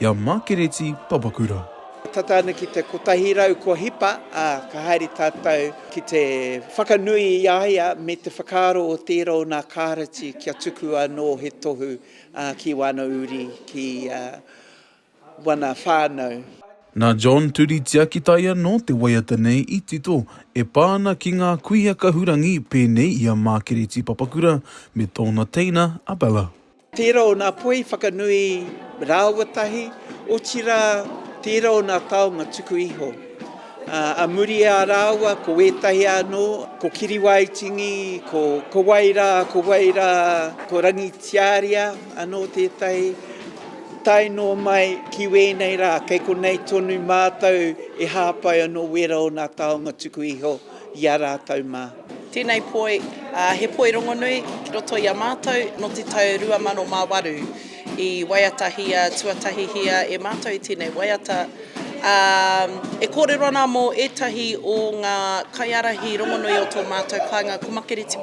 i a Mākereti Papakura. Tata ana ki te kotahi rau kua hipa, ā, ka haere tātou ki te whakanui i a ia me te whakaaro o tērā o nā Kāreti kia tuku anō he tohu ki wāna uri, ki wana whānau. Nā John Turi Tiakitaia nō te waiata nei i tito, e pā ana ki ngā kuia kahurangi pēnei i a Mākereti Papakura me tōna teina a Bella. Tērā o nā poi whakanui rāua tahi, otirā, tērā o nā taonga tuku iho. A muri i a rāua, ko ētahi anō, ko Kiriwaitingi, ko, ko wai rā, ko wai rā, ko Rangitiaria anō tētahi, tae noa mai ki wēnei rā, kei konei tonu mātou e hāpai anō wērā o nā taonga tuku iho. i a rātou mā. Tēnei poi, he poi rongonui ki roto i a mātou nō te tau 2008. I waiatahia, tuatahihia e mātou i tēnei waiata, ā, e kōrero ana mō ētahi o ngā kaiārahi rongonui o tō mātou kāinga ko Makereti.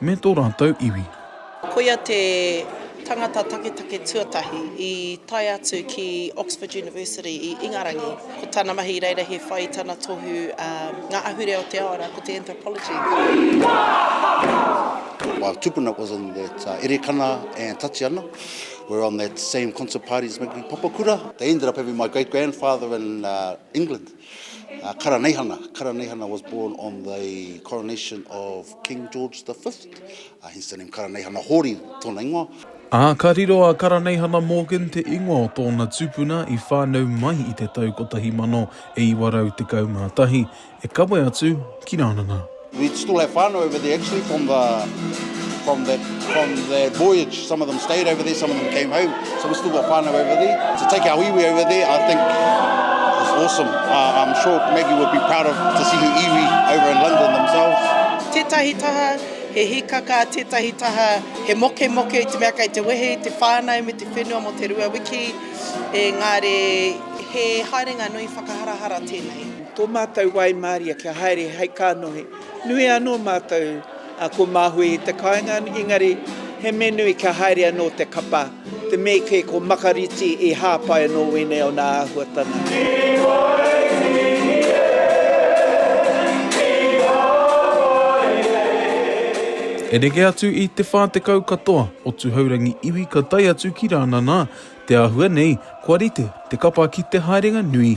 Me tō rātou iwi. Koia te tangata taketake tuatahi i tae atu ki Oxford University i Ingarangi. Ko tana mahi i reira he whai i tana tohu a ngā ahurea o te ao arā, ko te Anthropology. While Tupuna was on that uh, Erekana and Tatiana were on that same concert parties making Papakura. They ended up having my great grandfather in uh, England. Uh, Karaneihana. Karaneihana was born on the coronation of King George V. Uh, hence the name Karaneihana Hori, tōna ingoa. Ā, ka riro a Karaneihana Morgan te ingoa o tōna tupuna i whānau mai i te tau 1911, e kawe atu ki Rānana. We'd still have whānau over there actually from the from that from that voyage. Some of them stayed over there, some of them came home. So we still got whānau over there. To take our iwi over there, I think was awesome. Uh, I'm sure Maggie would be proud of to see her iwi over in London themselves. Tētahi taha he hikaka, tētahi taha he mokemoke i te mea kei te wehe i te whānau me te whenua mō te rua wiki, engari he haerenga nui whakaharahara tēnei. Tō mātou waimaria kia haere hei kānohi. Nui anō mātou ko Māhui i te kāinga, engari he mea nui kia haere anō te kapa, te mea kē ko Makariti i hāpai anō wēnei o nā āhuatanga. Ki Waihine i hāpai nei. E rere atu i te whā tekau katoa o Tuhourangi iwi ka tae atu ki Rānana. Te āhua nei, kua rite te kapa ki te haerenga nui